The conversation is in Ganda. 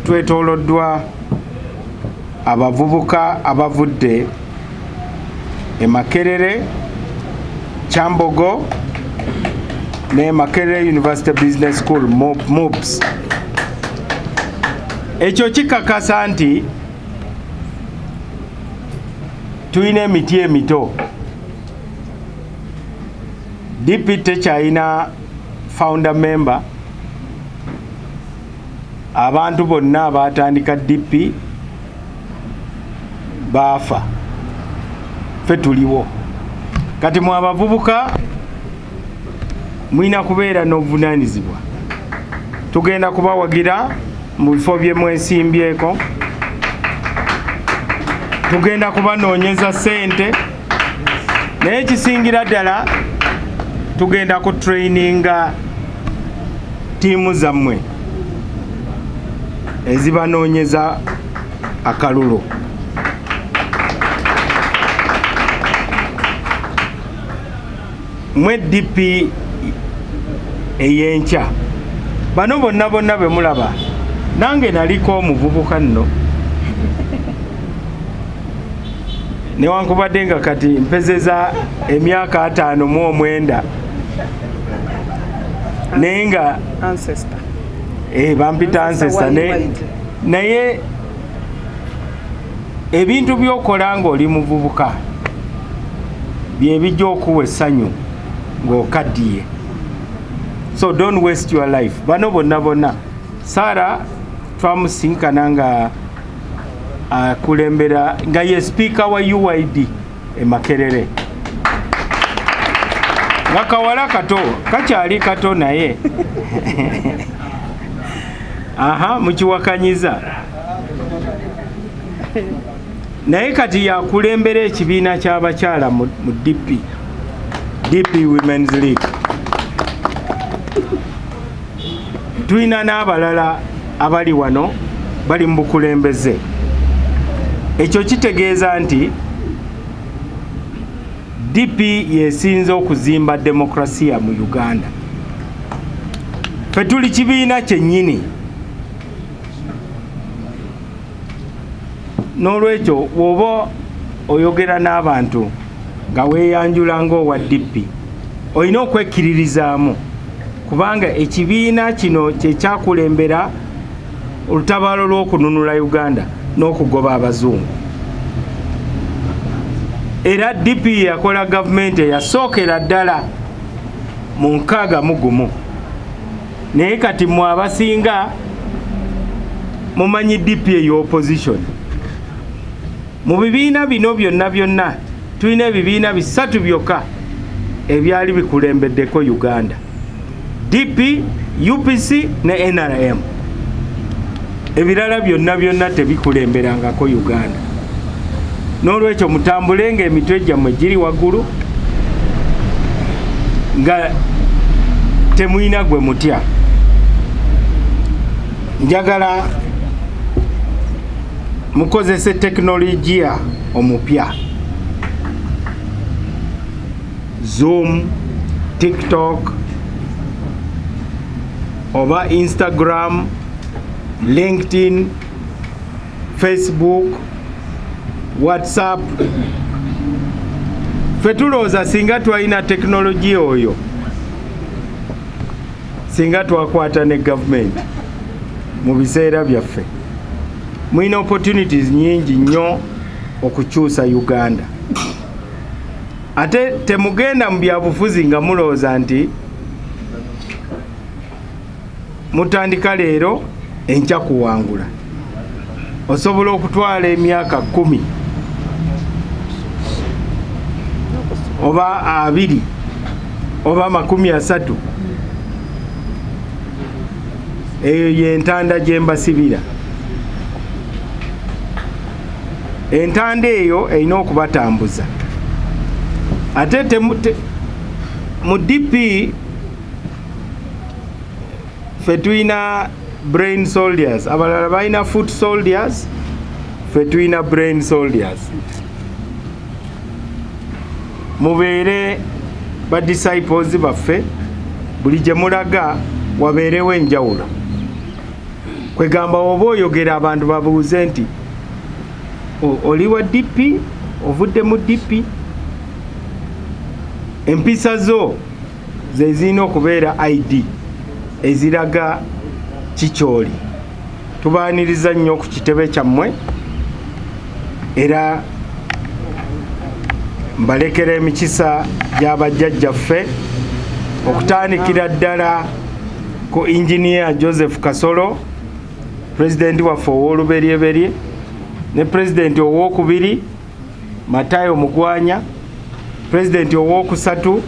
twetoloddwa abavubuka abavudde e Makerere, Kyambogo ne Makerere University Business School MUBS. Ekyo kikakasa nti tulina emiti emito DP tekyalina founder member Abantu bonna abaatandika DP baafa, ffe tuliwo. Kati mwe abavubuka mulina kubeera n'obuvunaanyizibwa. Tugenda kubawagira mu bifo bye mwesimbyeko, tugenda kubanoonyeza ssente. naye ekisingira ddala tugenda ku traininga tiimu zammwe ezibanoonyeza akalulu mwe dp eyenkya bano bonna bonna bemulaba nange naliko omuvubuka nno newankubadde nga kati mpezeza emyaka ataano mu omwenda naye nga eh, bampita ansesta naye ebintu byokola ngaoli muvubuka byebijja okuwa essanyu ng'okaddiye so don't waste your life bano bonna bonna sara twamusinkana nga akulembera uh, nga ye sipiika wa uid e makerere nga kawala kato kakyali kato naye aha mukiwakanyiza naye kati yakulembera ekibiina kyabakyala mu dp dp womens league tulina n'abalala abali wano bali mu bukulembeze ekyo kitegeeza nti DP yesinze okuzimba demokrasia mu Uganda fetuli kibiina kyennyini n'olwekyo woba oyogera n'abantu nga weeyanjula ng'owa DP olina okwekkiririzaamu kubanga ekibiina kino kyekyakulembera olutabaalo lw'okununula uganda n'okugoba abazungu era dp yakola gavumenti eyasookera ddala mu nkaaga mu gumu naye kati mwe abasinga mumanyi dp ey'opposition mu bibiina bino byonna byonna Tulina ebibiina bisatu byokka ebyali bikulembeddeko Uganda, DP, UPC ne NRM. Ebirala byonna byonna tebikulemberangako Uganda. N'olwekyo mutambule ng'emitwe gyammwe giri waggulu nga temulina gwe mutya. Njagala mukozese tekinologiya. omupya zoom tiktok oba instagram linkedin facebook whatsapp fetulowooza singa twalina tekinologiya oyo singa twakwata ne gavumenti mu biseera byaffe mulina opportunities nyingi nnyo okukyusa uganda ate temugenda mu byabufuzi nga mulowooza nti mutandika leero enkya kuwangula osobola okutwala emyaka kumi oba abiri oba amakumi asatu eyo yentanda gyembasibira entanda eyo erina okubatambuza ate mu dp ffe tulina brain soldiers abalala balina foot soldiers ffe tulina brain soldiers mubeere ba disciples baffe buli gye mulaga wabeerewo enjawulo kwegamba oba oyogera abantu babuuze nti oli wa dp ovudde mu dp empisa zo zezirina okubeera id eziraga kikyoli tubaaniriza nnyo ku kitebe kyammwe era mbalekera emikisa gy'abajjajjaffe okutandikira ddala ku inginiya joseph kasolo pulezidenti waffe ow'oluberyeberye ne pulezidenti owokubiri matayo mugwanya president owokusatu